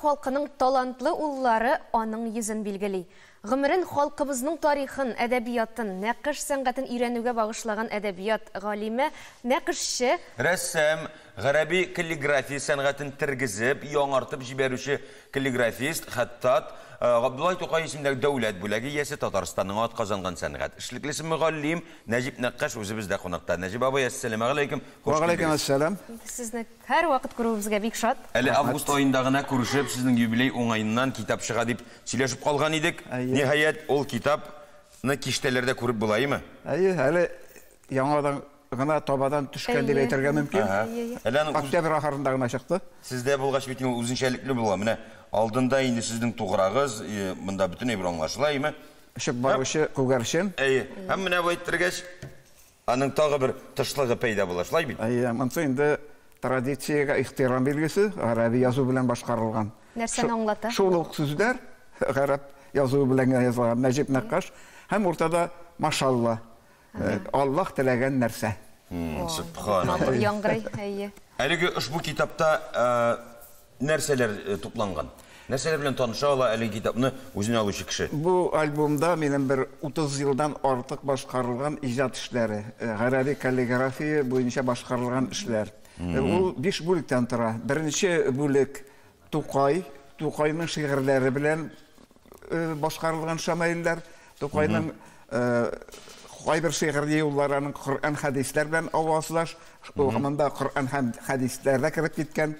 Халкының талантлы уллары аның йөзен билгели. Гомерен халкыбызның тарихын, әдәбиятын, нәкыш сәнгатен өйрәнүгә багышлаган әдәбият галиме, нәкышче, Рәссам, гарәби каллиграфия сәнгатен тергезеп, яңартып җибәрүче каллиграфист, хәттат, Габдулла Тукай исемендәге дәүләт бүләге иясе, Татарстанның атказанган сәнгать эшлеклесе, мөгаллим Нәҗип Нәккаш үзебездә кунакта. Нәҗип абый, әссәламегаләйкем, хуш килдегез! Вәгаләйкемәссәлам! Сезне. Һәрвакыт күрүебезгә бик шат. Әле август аенда гына күрешеп, сезнең юбилей уңаеннан китап чыга дип сөйләшеп калган идек. Ниһаять, ул китап ны киштәләрдә күреп булаимы? Әйе, әле яңадан гына табадан төшкән дип әйтергә мөмкин. Октябрь ахырында гына чыкты. Сездә булгач бит ул үзенчәлекле була. Менә алдында инде сезнең туграгыз, монда бөтенләй бер аңлашыла, әйеме? Очып баручы күгәрчен. Әйе. Һәм менә бу әйттергәч. Аның тагы бер тышлыгы пәйда була, шулай бит? Әйе, монсы инде традициягә ихтирам билгесе, гарәби язу белән башкарылган. Нәрсәне аңлата? Шул ук сүзләр гарәп язуы белән генә язылган, Нәҗип Нәккаш, һәм уртада Машалла, Аллаһ теләгән нәрсә. Сүбханаллаһ. Матур яңгырый, әйе. Әлеге ошбу китапта нәрсәләр тупланган? Нәрсәләр белән таныша ала әлеге китапны үзенә алучы кеше? Бу альбомда минем бер 30 елдан артык башкарылган иҗат эшләре, гарәби каллиграфия буенча башкарылган эшләр. Ул биш бүлектән тора. Беренче бүлек, Тукай, Тукайның шигырьләре белән башкарылган шамаилләр, Тукайның кайбер шигырьле юллары аның Коръән хәдисләр белән авазлаш, монда Коръән һәм хәдисләр дә кереп киткән.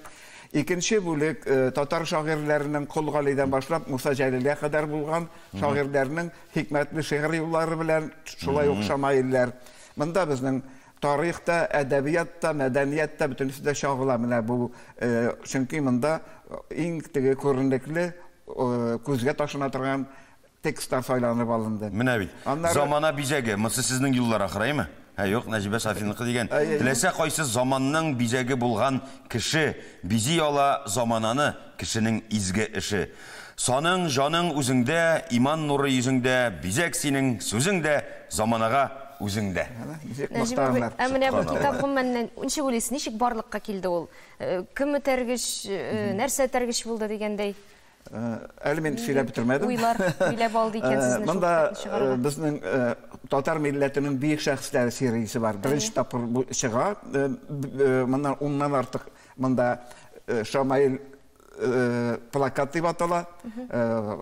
Икенче бүлек татар шагыйрьләренең Кол Галидән башлап Муса Җәлилгә кадәр булган шагыйрьләрнең хикмәтле шигырь юллары белән шулай ук шамаилләр. Монда безнең Тарих та, әдәбият та, мәдәният та, бөтенесе дә чагыла менә бу, чөнки монда иң теге күренекле, күзгә ташлана торган текстлар сайланып алынды. Менә бит, замана бизәге, монсы сезнең юллар ахыраймы? Ә юк, Нәҗибә Сафиныкы дигән. Теләсә кайсы заманның бизәге булган кеше бизи ала замананы. Кешенең изге эше. Саның, җаның үзеңдә, Иман нуры йөзеңдә, Бизәк синең, сүзең дә, Заманага үзең дә. Нәҗип абый, ә менә бу китап гомумән ничек уйлыйсыз, ничек барлыкка килде ул? Кем этәргеч, нәрсә этәргеч булды дигәндәй? Әле мин сөйләп бетермәдем. Уйлар биләп алды икән сезне шул китапны чыгарга. Монда безнең татар милләтенең бөек шәхесләре сериясе бар. Беренче тапкыр бу чыга. Моннан уннан артык Монда Шамаил плакат дип атала.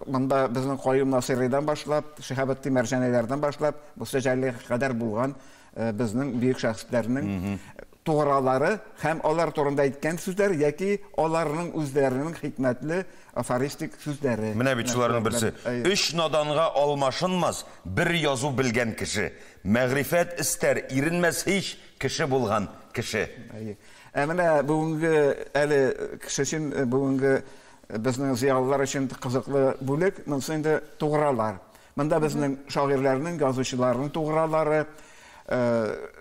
Монда безнең Каюм Насыйридан башлап, Шиһабетдин Мәрҗәниләрдән башлап, бусы җәлле кадәр булган безнең бөек шәхесләрнең тугралары һәм алар турында әйткән сүзләр яки аларның үзләренең хикмәтле афористик сүзләре. Менә бит шуларның берсе. Өч наданга алмашынмас бер язу белгән кеше. Мәгърифәт эстәр, иренмәс һич кеше булган кеше. Ә менә бүгенге әле кеше өчен бүгенге безнең зыялылар өчен кызыклы бүлек, монысы инде тугралар. Монда безнең шагыйрьләрнең, язучыларның тугралары,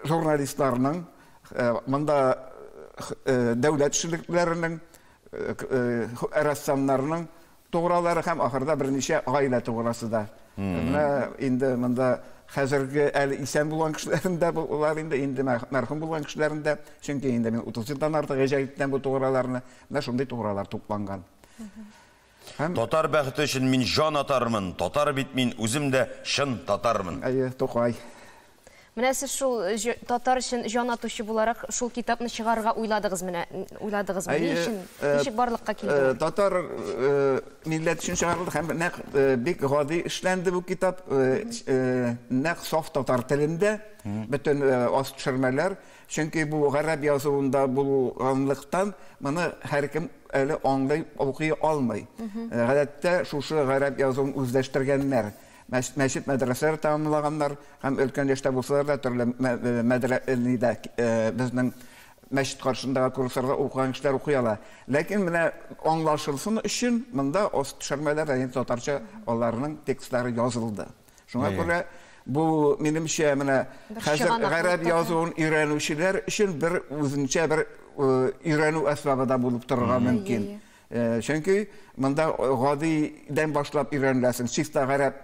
журналистларның, монда дәүләт эшлеклеләренең, рәссамнарның Туграулары һәм ахырда берничә гаилә туграсы да. Менә инде монда хәзерге әле исән булган кешеләрем дә булар инде, инде мәрхүм булган кешеләрем дә, чөнки инде мин 30 елдан артык гаҗә иттем бу туграларны. Менә шундый тугралар тупланган. Һәм... Татар бәхете өчен мин җан атармын, татар бит мин, үзем дә чын татармын. Әйе, Тукай. Менә сез шул татар өчен җан атучы буларак шул китапны чыгарырга уйладыгыз менә, уйладыгыз менә. Ни өчен, ничек барлыкка килде? Татар милләт өчен чыгарылды һәм нәкъ бик гади эшләнде бу китап. Нәкъ саф татар телендә бөтен аз төшермәләр. Чөнки бу гарәп язуында булганлыктан, моны һәркем әле аңлый, укый алмый. Гадәттә шушы гарәп язуын үзләштергәннәр. Мәчет-мәдрәсәләр тәмамлаганнар һәм өлкән яшьтә булсалар да, төрле безнең мәчет каршындагы курсларда укыган кешеләр укый ала. Ләкин менә аңлашылсын өчен, монда аст төшермәләр дә инде татарча аларның текстлары язылды. Шуңа күрә бу, минемчә, менә хәзер гарәп язуын өйрәнүчеләр өчен бер үзенчә бер өйрәнү әсбабы да булып торырга мөмкин. Чөнки монда гадидән башлап өйрәнеләсең, чиста гарәп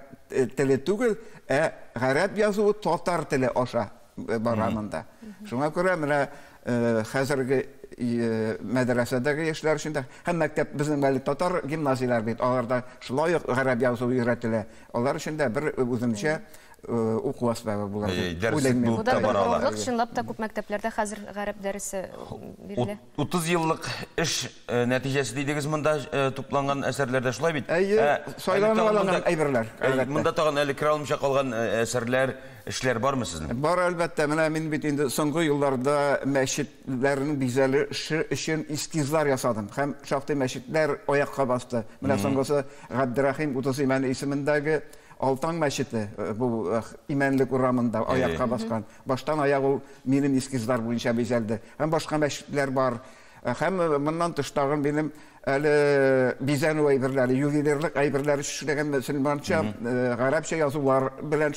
теле түгел, ә гарәп язуы татар теле аша бара монда. Шуңа күрә менә хәзерге мәдрәсәдәге яшьләр өчен дә һәм мәктәп безнең әле татар гимназияләре бит, аларда шулай ук гарәп язуы өйрәтелә. Алар өчен дә бер үзенчә уку әсбабы булыр дип уйлыйм мин. Бу да бер горурлык, чынлап та күп мәктәпләрдә хәзер гарәп дәресе бирелә. Утыз еллык эш нәтиҗәсе дидегез монда тупланган әсәрләрдә, шулай бит? Әйе, сайланып алынган әйберләр. Монда тагын әле керә алмыйча калган әсәрләр, эшләр бармы сезнең? Бар, әлбәттә. Менә мин бит инде соңгы елларда мәчетләрнең бизәлеше өчен эскизлар ясадым. Һәм шактый мәчетләр аякка басты. Менә соңгысы Габдерәхим Утыз Имән исемендәге Алтан мәчете, бу Имәнлек урамында аякка баскан. Баштан аяк ул минем эскизлар буенча бизәлде. Һәм башка мәчетләр бар. Һәм моннан тыш тагын минем әле бизәнү әйберләре, ювелирлык әйберләр эшләгән мөселманча, гарәпчә язулар белән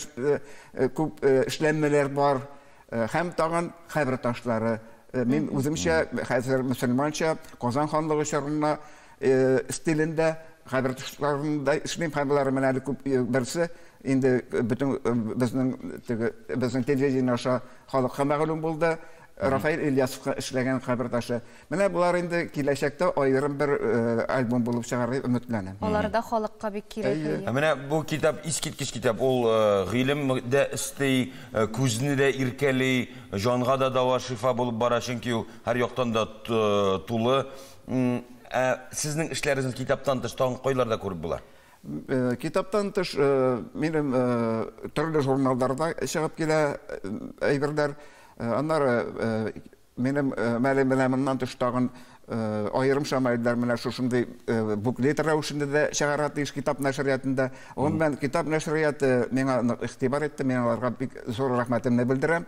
күп эшләнмәләр бар. Һәм тагын кабер ташлары. Мин үземчә хәзер мөселманча Казан ханлыгы чорына стилендә хәбәр тышкарында эшлим һәм болар менә әле күп берсе инде бөтен безнең теге безнең телевидение аша халыкка мәгълүм булды Рафаил Ильясовка эшләгән хәбәр ташы. Менә болар инде киләчәктә аерым бер альбом булып чыгар дип өметләнәм. Алар да халыкка бик кирәк. Менә бу китап искиткеч китап. Ул гыйлем дә өсти, күзне дә иркәли, җанга да дава, шифа булып бара, чөнки ул һәр яктан да тулы. Ә сезнең эшләрегезне китаптан тыш тагын кайларда күреп була? Э, китаптан тыш э, минем э, төрле журналларда чыгып килә әйберләр. Аннары минем мәле менә моннан тыш тагын аерым шамайлар менә шушындый буклет рәвешендә дә чыгара тиеш китап нәшриятында. Гомумән китап нәшрияты миңа нык игътибар итте, мин аларга бик зур рәхмәтемне белдерәм.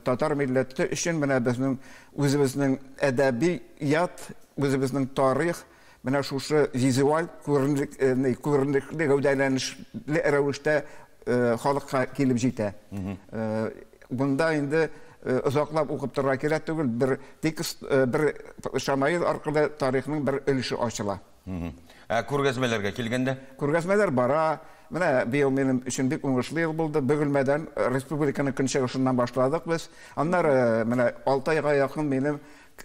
Татар милләте өчен менә безнең Үзебезнең әдәби ят, үзебезнең тарих менә шушы визуаль күренекле гәүдәләнешле рәвештә халыкка килеп җитә. Бунда инде озаклап укып торырга кирәк түгел, бер текст, бер шамаил аркылы тарихның бер өлеше ачыла. Ә күргәзмәләргә килгәндә? Күргәзмәләр бара. Менә быел минем өчен бик уңышлы ел булды. Бөгелмәдән, э, республиканың көнчыгышыннан башладык без. Аннары э, менә алты айга якын минем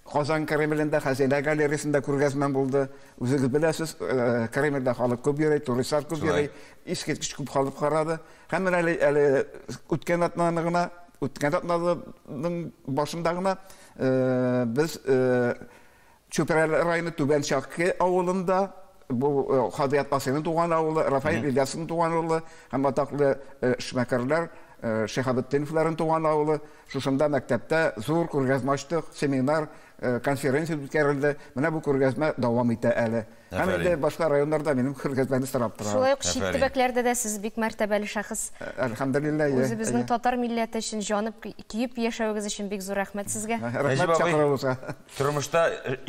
Казан Кремлендә, Хәзинә галереясендә күргәзмәм булды. Үзегез беләсез, э, Кремльдә халык күп йөри, туристлар күп йөри, искиткеч күп халык карады. Һәм менә әле, әле үткән атнаны гына, үткән атнаның башында гына э, без э, Чүпрәле районы Түбән Чакы авылында бу э, Хадият Насыйның туган авылы, Рафаил Ильясовның туган авылы һәм атаклы э, эшмәкәрләр э, Шиһабетдиновларның туган авылы. Шушында мәктәптә зур күргәзмә ачтык, семинар, конференция үткәрелде. Менә бу күргәзмә дәвам итә әле. Һәм Әфәрин. инде башка районнар да минем күргәзмәне сорап тора. Шулай ук чит Әфәрин. төбәкләрдә дә сез бик мәртәбәле шәхес. Әлхәмдулилла, әйе, Үзебезнең әйе. татар милләте өчен җанып, көеп яшәвегез өчен бик зур рәхмәт сезгә. Рәхмәт Нәҗип абый, чакыруыгызга. Тормышта